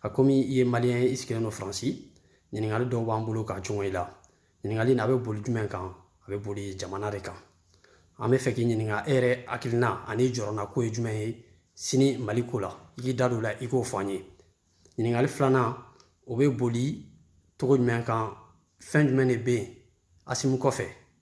a komi i ye maliyɛn ye i sigilen don faransi ɲininkali dɔw b'an bolo ka jɔn i la ɲininkali na a bɛ boli jumɛn kan a bɛ boli jamana de kan an b'a fɛ k'i ɲininka e yɛrɛ hakilina ani i jɔrɔnanko ye jumɛn ye sini mali ko la i k'i da don la i k'o fɔ an ye ɲininkali filanan o bɛ boli cogo jumɛn kan fɛn jumɛn de bɛ yen asimu kɔfɛ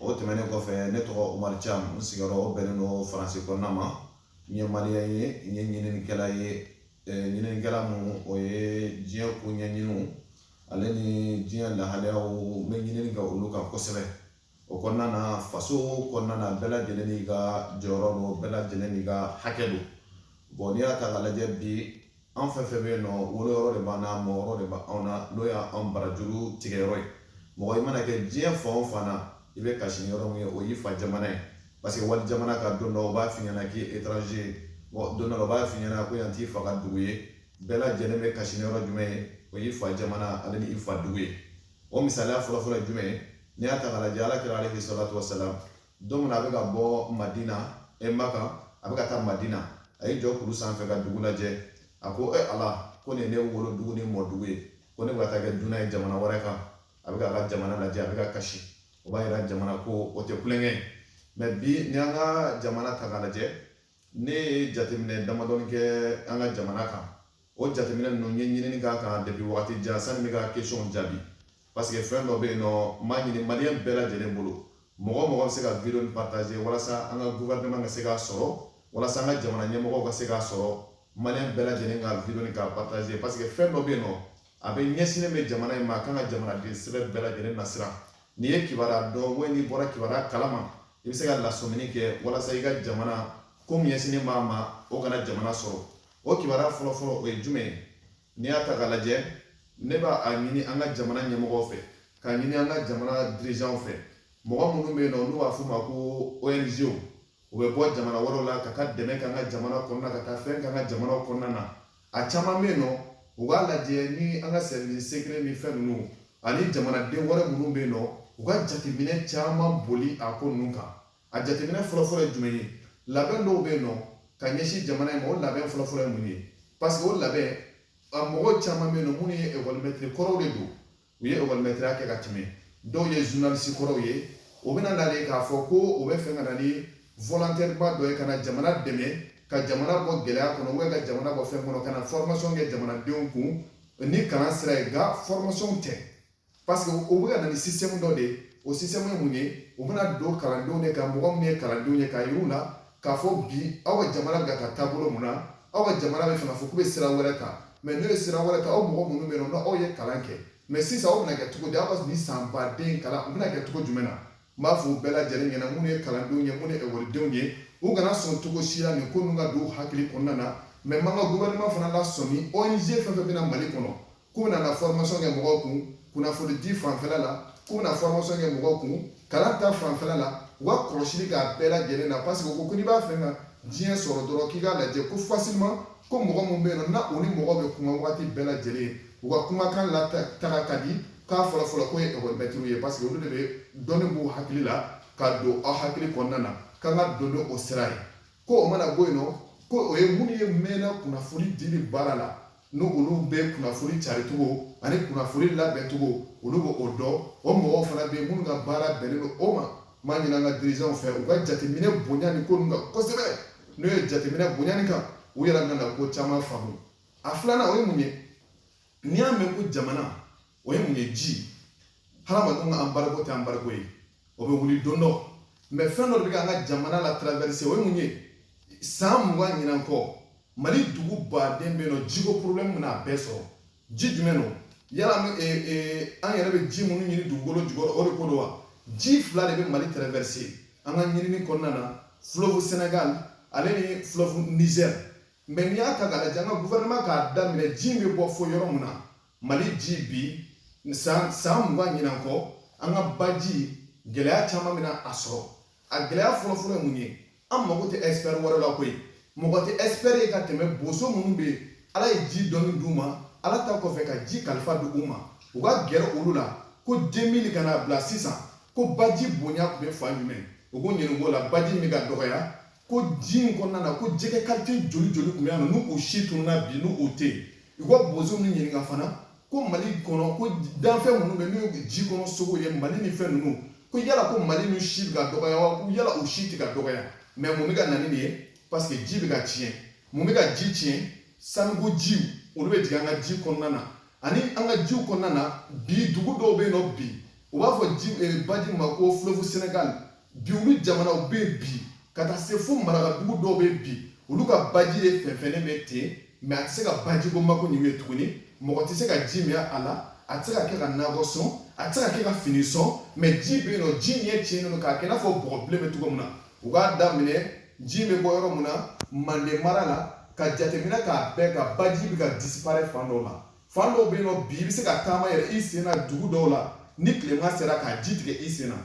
o tɛmɛnen kɔfɛ ne tɔgɔ umaru cam n sigiyɔrɔ o bɛnnen don faransi kɔnɔna ma n ye maliyɛn ye n ye ɲininikɛla ye ɲininikɛla min o ye diɲɛ ko ɲɛɲiniw ale ni diɲɛ lahalayaw n bɛ ɲinini kɛ olu kan kosɛbɛ o kɔnɔna na faso kɔnɔna na bɛɛ lajɛlen n'i ka jɔyɔrɔ don bɛɛ lajɛlen n'i ka hakɛ don bɔn n'i y'a ta k'a lajɛ bi an fɛn fɛn bɛ yen nɔ wolo yɔrɔ de b'an na mɔ yɔrɔ de b'an na n'o y'an barajuru tigɛ yɔrɔ ye mɔgɔ i mana kɛ diɲɛ fan o fan na i bɛ kasi ni yɔrɔ min ye o y'i fa jamana ye parce que wali jamana kan don dɔ o b'a f'i ɲɛna k'i ye étranger ye bon don dɔ la o b'a f'i ɲɛna ko yan t'i fa ka dugu ye bɛɛ lajɛlen bɛ kasi ni yɔrɔ jumɛn ye o y'i fa jamana ale ni i fa dugu ye o misaliya fɔlɔfɔlɔ ye jumɛn ye n'i y'a ta k'a lajɛ ala kira alayhi salatu wasalam don min na a bɛ ka bɔ madina ɛ maka a bɛ ka taa madina a y'i jɔ kulu sanfɛ ka dugu lajɛ a ko e ala ko nin ne wolo dugu ni mɔ dugu ye ko ne bɛ ka taa kɛ dunan ye jamana wɛrɛ kan a bɛ k'a ka jamana lajɛ a bɛ ka kasi o b'a yira jamana ko o tɛ tulonkɛ ye mɛ bi n'i y'an ka jamana ta k'a lajɛ ne ye jateminɛ damadɔni kɛ an ka jamana kan o jateminɛ ninnu n ye ɲinini k'a kan depi waati jan sani n bɛ ka kesɔn jaabi paseke fɛn dɔ bɛ yen nɔ n b'a ɲini maliyɛn bɛɛ lajɛlen bolo mɔgɔ o mɔgɔ bɛ se ka video nin partager walasa an ka gouvernement ka se k'a sɔrɔ walasa an ka jamana ɲɛmɔgɔw ka se k'a sɔrɔ maliyɛn bɛɛ lajɛlen ka video nin k'a partager paseke fɛn dɔ bɛ yen nɔ a bɛ ɲɛsinnen bɛ jamana in ma a kan ka jamanaden sɛbɛ bɛɛ lajɛlen nasiran n'i ye kibaruya dɔn walima n'i bɔra kibaruya kalama i bɛ se ka lasɔmini kɛ walasa i ka jamana ko min ɲɛsinnen b'a ma o kana jamana sɔrɔ o kibaruya fɔlɔfɔlɔ o ye jumɛn ye n'i y'a ta k'a lajɛ ne b'a ɲini an ka jamana ɲɛmɔgɔw fɛ k'a ɲini an ka jamana dirijanw fɛ mɔgɔ minnu bɛ yen nɔ n'u b'a f'u ma ko ong u bɛ bɔ jamana wɛrɛw la ka taa dɛmɛ k'an ka jamana kɔnɔna ka taa fɛn k'an ka jamanaw kɔnɔna na a caman bɛ yen nɔ u k'a lajɛ ni an ka service secret ni fɛn ninnu ani jamanaden wɛrɛ minnu bɛ yen nɔ u ka jateminɛ caman boli a ko ninnu kan a jateminɛ fɔlɔfɔlɔ ye jumɛn ye labɛn dɔw bɛ yen nɔ ka ɲɛsin jamana in ma o labɛn fɔlɔfɔlɔ ye mun ye parce que o labɛn a mɔgɔ caman bɛ yen nɔ minnu ye ekɔlimɛtiri kɔrɔw de don u ye ekɔlimɛtiriya kɛ ka tɛmɛ dɔw ye journaliste kɔrɔw ye o bɛna nale k'a fɔ ko o b'a fɛ ka na ni volontaire ba dɔ ye ka na jamana dɛmɛ ka jamana bɔ gɛlɛya kɔnɔ ou ka jamana bɔ fɛn kɔnɔ ka na formation kɛ jamanadenw kun ni kalan sira ye nka formation tɛ parce que o bɛ ka na ni système dɔ de ye o système ye mun ye o bɛna don kalandenw de kan mɔgɔ minnu ye kalandenw ye k'a yir'u la k'a fɔ bi aw ka jamana bɛ ka taa taabolo mun na aw ka jamana bɛ fɛ k'a fɔ k'u bɛ sira wɛrɛ ta mais n'u ye sira wɛrɛ ta aw mɔgɔ minnu bɛ yen nɔ aw ye kalan kɛ mais sisan aw bɛna kɛ cogo di aw ka nin san baden kalan u bɛna kɛ cogo jumɛn na n b'a fɔ u bɛɛ lajɛlen ɲɛna minnu ye kalandenw ye minnu ye ekɔlidenw ye u kana sɔn cogo si la nin ko ninnu ka don u hakili kɔnɔna na mais n b'an ka gouvernement fana lasɔmi ONG fɛn fɛn bɛ na Mali kɔnɔ k'u bɛna na formation kɛ mɔgɔw kun kunnafonidi fanfɛla la k'u bɛna formation kɛ mɔgɔw kun kalan ta fanfɛla la u ka kɔlɔsili k'a bɛɛ lajɛlen na parce que u ko ko n'i b'a fɛ ka diɲɛ sɔrɔ dɔrɔn k'i k'a lajɛ ko facilement ko mɔgɔ min bɛ yen nɔ na o ni mɔgɔ bɛ kuma waati bɛɛ lajɛlen u ka kumakan lataga ka di k'a fɔlɔfɔlɔ ko ye ekɔli mɛtiriw ye parce que olu de bɛ dɔnni b'u hakili la ka don aw hakili kɔnɔna na k'an ka don ni o sira ye ko o mana bɔ yen nɔ ko o ye minnu ye mɛnna kunnafoni dili baara la n'olu bɛ kunnafoni caricogo ani kunnafoni labɛncogo olu bɛ o dɔn o mɔgɔw fana bɛ yen minnu ka baara bɛnnen don o ma n b'a ɲini an ka dirijanw fɛ u ka jateminɛ bonya nin ko ninnu kan kosɛbɛ n'u ye jateminɛ bonya nin kan u yɛrɛ bɛna ko caman faamu a filanan o ye mun ye n'i y'a mɛn ko jamana o ye mun ye ji hadamadenw ka embargo tɛ embargo ye o bɛ wuli don dɔ mais fɛn dɔ de bɛ ka an ka jamana la traverser o ye mun ye san mugan ɲinan kɔ mali dugu baden bɛ yen nɔ jiko problème bɛna a bɛɛ sɔrɔ ji jumɛn don yala an yɛrɛ bɛ ji minnu ɲini dugukolo jukɔrɔ o de ko don wa ji fila de bɛ mali traverser an ka ɲinini kɔnɔna na fleuve sénégal ale ni fleuve niger mais n'i y'a ta k'a lajɛ an ka gouvernement k'a daminɛ ji bɛ bɔ fo yɔrɔ min na mali ji bi san mugan ɲinan kɔ an ka baji gɛlɛya caman bɛna a sɔrɔ a gɛlɛya fɔlɔfɔlɔ ye mun ye an mago tɛ expert wɛrɛ la koyi mɔgɔ tɛ expert ye ka tɛmɛ boso minnu bɛ ala ye ji dɔnni d'u ma ala ta kɔfɛ ka ji kalifa di u ma u ka gɛrɛ olu la ko deux mille ka na bila sisan ko baji bonya tun bɛ fan jumɛn u ko ɲinɛ b'o la baji min ka dɔgɔya Ko ji in kɔnɔna na ko jɛgɛ qualité joli joli tun bɛ yan n'u si tununa bi n'u tɛ yen u ka boso nin ɲininka fana ko mali kɔnɔ ko danfɛn minnu bɛ n'u ye ji kɔnɔ sogo ye mali ni fɛn ninnu ko yala ko mali ninnu si bɛ ka dɔgɔya wa ko yala o si tɛ ka dɔgɔya mais mun bɛ ka na ni nin ye parce que ji bɛ ka tiɲɛ mun bɛ ka ji tiɲɛ sanuko jiw olu bɛ jigin an ka ji kɔnɔna na ani an ka jiw kɔnɔna na bi dugu dɔw bɛ yen nɔ bi u b'a fɔ ji eh, baji ma ko fleuve sénégal bi olu jamanaw bɛ yen bi ka taa se fo marakadugu dɔw bɛ bi olu ka baji de fɛnfɛnnen bɛ ten mais a tɛ se ka bajiko mako ninnu ɲɛ tuguni mɔgɔ tɛ se ka ji min a la a tɛ se ka kɛ ka nakɔ sɔn a tɛ se ka kɛ ka fini sɔn mais ji bɛ yen nɔ ji ɲɛ tiɲɛnen don k'a kɛ i n'a fɔ bɔgɔ bilen bɛ cogo min na u k'a daminɛ ji bɛ bɔ yɔrɔ min na manden mara la ka jateminɛ k'a bɛɛ ka baji bɛ ka disparaît fan dɔ la fan dɔw bɛ yen nɔ bi i bɛ se ka taama yɛrɛ i sen na dugu dɔw la ni tilema sera ka ji tigɛ i sen na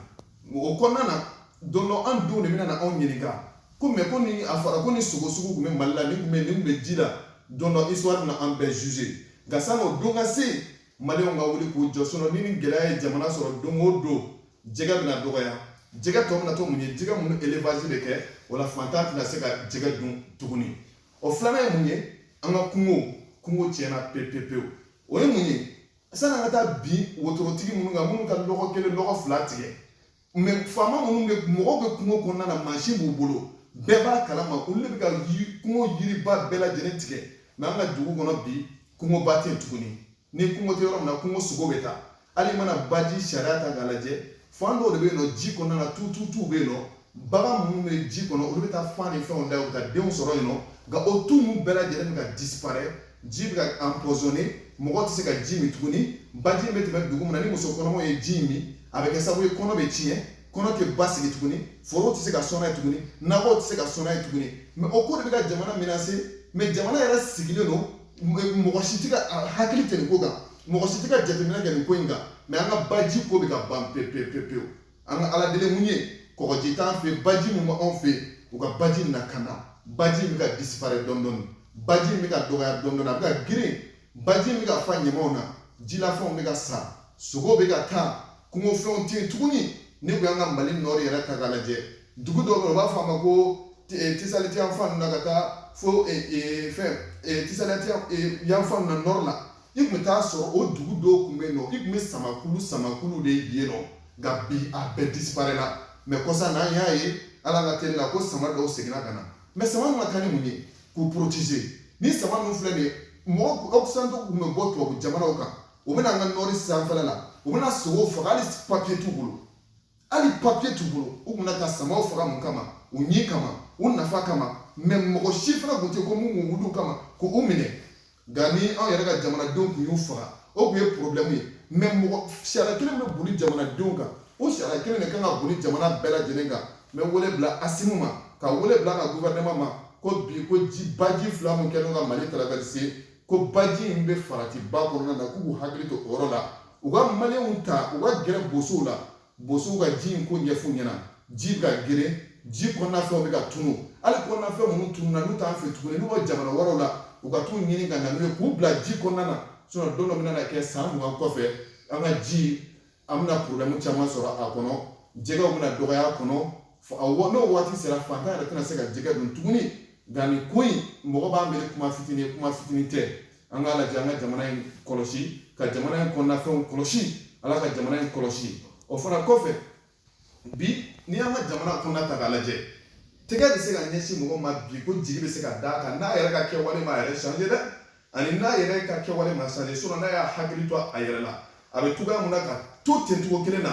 o kɔnɔna na don dɔ an denw de bɛna na anw ɲininka ko mɛ ko ni a fɔra ko nin sogo sugu tun bɛ mali la nin tun bɛ nin tun bɛ ji la don dɔ histoire bɛna an bɛɛ juger nka sanni o don ka se maliyɛnw ka wuli k'u jɔ sinɔn ni nin gɛlɛya ye jamana sɔrɔ don o don jɛgɛ bɛna dɔgɔya jɛgɛ tɔ bɛna to mun ye jɛgɛ minnu élevage de kɛ o la fantan tɛna se ka jɛgɛ dun tuguni o filanan ye mun ye an ka kungo kungo tiɲɛna pepepewu o ye mun ye sani an ka taa bin wotorotigi minnu kan minnu ka lɔgɔ kelen lɔgɔ fila tigɛ mɛ faama minnu bɛ mɔgɔw bɛ kungo kɔnɔna na mansin b'u bolo bɛɛ b'a kalama olu de bɛ ka kungo yiriba bɛɛ lajɛlen tigɛ mɛ an ka dugu kɔnɔ bi kungoba tɛ yen tuguni ni kungo tɛ yɔrɔ min na kungo sogo bɛ taa hali mana baji sariya ta k'a lajɛ fan dɔw de bɛ yen nɔ ji kɔnɔna na tuutuutuw bɛ yen nɔ bagan minnu bɛ ji kɔnɔ olu bɛ taa fan ni fɛnw da u ka denw sɔrɔ yen nɔ nka o tu ninnu bɛɛ lajɛlen bɛ ka disipare ji bɛ ka empoisonner mɔgɔ tɛ se ka ji min tuguni baji bɛ tɛmɛ dugu min na ni muso kɔnɔmaw ye ji min a bɛ kɛ sababu ye kɔnɔ bɛ tiɲɛ kɔnɔ tɛ basigi tuguni foro tɛ se ka sɔn n'a ye tuguni nakɔ tɛ se ka sɔn n'a ye tuguni mɛ o ko de bɛ ka jamana menacer mɛ jamana yɛrɛ sigilen don mɔgɔ si tɛ ka hakili tɛ nin ko kan mɔgɔ si tɛ ka jateminɛ kɛ nin ko in kan mɛ an ka baji ko bɛ ka ban pepepepewu an ka ala deli mun ye kɔgɔji t'an fɛ baji min b'anw fɛ u ka baji in lakana baji bɛ ka disipare dɔndɔni baji bɛ ka dɔgɔya dɔndɔni a bɛ ka geren baji bɛ ka fa ɲamanw na jilafɛnw bɛ ka sa sogo bɛ ka taa kungofɛnw tɛ yen tuguni n'i ko y'an ka mali nɔri yɛrɛ ta k'a lajɛ dugu dɔ bɛ yen u b'a fɔ a ma ko eh, tisaliti yan fan na ka taa fo eh, eh, fɛn tisaliti yan fan na nɔri la i tun bɛ t'a sɔrɔ o dugu dɔw tun bɛ yen nɔ i tun bɛ samakulu samakulu de ye nɔ nka bi a bɛɛ disiparela mɛ kɔsa na an y'a ye an ka tele la ko sama dɔw seginna ka na mɛ sama ninnu ka kan ni mun ye k'u poroteze ni sama ninnu filɛ nin ye mɔgɔ occidentaux tun bɛ bɔ tubabu jamanaw kan u bɛ na an ka nɔri sanfɛla la u bɛ na sogow faga hali papiye t'u bolo hali papiye t'u bolo u tun bɛ na ka samaw faga mun kama u ɲin kama u nafa kama mɛ mɔgɔ si fana tun tɛ ko mun k'u wuli u kama k'u minɛ nka ni anw yɛrɛ ka jamanadenw tun y'u faga o tun ye porobilɛmu ye mɛ mɔgɔ sariya kelen bɛ boli jamanadenw kan o sariya kelen de kan ka boli jamana bɛɛ lajɛlen kan n bɛ wele bila asimi ma ka wele bila an ka guvɛrɛnɛma ma ko bi ko ji baji fila min kɛlen ka mali traverser ko baji in bɛ faratiba kɔnɔna na k'u k'u hakili to o yɔrɔ la u ka maliyɛnw ta u ka gɛrɛ bosow la bosow ka ji in ko ɲɛf'u ɲɛ na ji bɛ ka geren ji kɔnɔna fɛnw bɛ ka tunu hali kɔnɔna fɛn minnu tununa n'u t'an fɛ tuguni n'u bɛ jamana wɛrɛw la u ka t'u ɲini ka na n'u ye k'u bila ji kɔnɔna na sinɔn don dɔ bɛna na kɛ san mugan kɔfɛ an ka ji an bɛna problème caman sɔrɔ a kɔnɔ jɛgɛw bɛna dɔgɔya a kɔnɔ n'o waati sera fantan yɛrɛ tɛna se ka jɛgɛ dun tuguni nka nin ko in mɔgɔ b'a miiri kuma fitini ye kuma fitini tɛ an k'a lajɛ an ka jamana in kɔlɔsi ka jamana in kɔnɔnafɛnw kɔlɔsi ala ka jamana in kɔlɔsi o fana kɔfɛ bi n'i y'an ka jamana kɔnɔna ta k'a lajɛ tɛgɛ bɛ se ka ɲɛsin mɔgɔ ma bi ko jigi bɛ se ka d'a kan n'a yɛrɛ ka kɛwale ma yɛrɛ changer dɛ ani n'a yɛrɛ ka kɛwale ma changer sinon n'a y'a hakili to a yɛrɛ la a bɛ cogoya mun na ka to ten cogo kelen na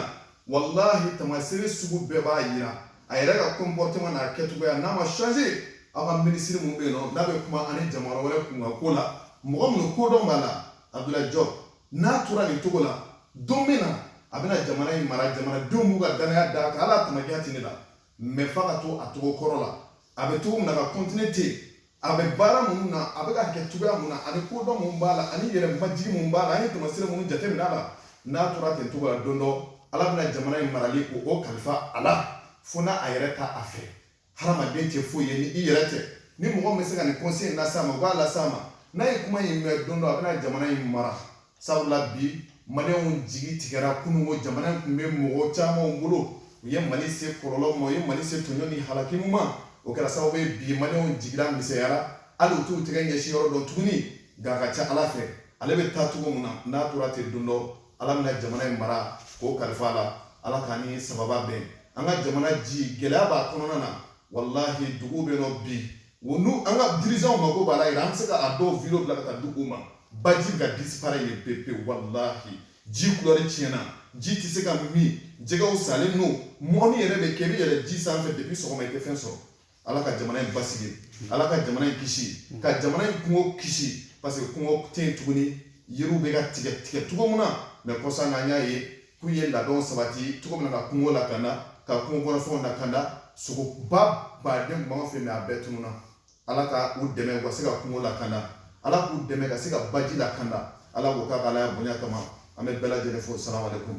walahi tamasere sugu bɛɛ b'a yira a yɛrɛ ka comportement n'a kɛcogoya n'a ma changer aw ka minisiri min bɛ yen nɔ n'a bɛ kuma ani jamana wɛrɛ kunkan ko la mɔgɔ minnu kodɔn b'a la abdulayi jɔb n'a tora nin cogo la don min na a bɛna jamana in mara jamanadenw b'u ka dannaya d'a kan hali a tamakiya tɛ ne la mais f'a ka to a cogo kɔrɔ la a bɛ cogo min na ka continuer ten a bɛ baara minnu na a bɛ k'a kɛ cogoya min na ani kodɔn min b'a la ani yɛrɛ majigi min b'a la an ye tamasere minnu jateminɛ a la n'a tora ten cogo la don dɔ ala bɛna jamana in marali ko o kalifa a la fo n'a a yɛrɛ t'a fɛ hadamaden tɛ foyi ye ni i yɛrɛ tɛ ni mɔgɔ min bɛ se ka nin conseil in las'a ma u b'a las'a ma n'a ye kuma in mɛn don dɔ a bɛna jamana in mara Sabula bi maliyɛnw jigi tigɛra kunun ko jamana in tun bɛ mɔgɔ caman bolo u ye mali se kɔlɔlɔ ma u ye mali se tɔɲɔ ni halaki ma o kɛra sababu ye bi maliyɛnw jigira misɛnyara hali u t'u tɛgɛ ɲɛsin yɔrɔ dɔn tuguni nka a ka ca ala fɛ ale bɛ taa cogo min na n'a tora ten don dɔ ala bɛna jamana in mara k'o kalifa a la ala k'a ni sababa bɛn an ka jamana ji gɛlɛya b'a kɔnɔna na walahi dugu bɛ nɔ bi O ni an ka dirigeants mago b'a la yɛrɛ, an bɛ se ka a dɔw video bila ka taa di u ma. Baji bɛ ka disparaître yen pewu, walahi ji couleur tiɲɛna, ji tɛ se ka min, jɛgɛw salen don, mɔni yɛrɛ bɛ kɛ, i bɛ yɛlɛ ji sanfɛ depuis sɔgɔma i tɛ fɛn sɔrɔ. Ala ka jamana in basigi, Ala ka jamana in kisi, ka jamana in kungo kisi parce que kungo tɛ yen tuguni, yiriw bɛ ka tigɛ tigɛ cogo min na mais kɔsa in na an y'a ye k'u ye labɛnw sabati cogo min na ka kungo lakanda ka kungo kɔnɔfɛnw lakanda sogoba baden tun b'an fɛ mais a bɛɛ tununa ala ka u dɛmɛ u ka se ka kungo lakanda ala k'u dɛmɛ ka se ka baji lakanda ala k'o k'a ka alaya bonya kama an bɛ bɛɛ lajɛlen fo salamu alaikum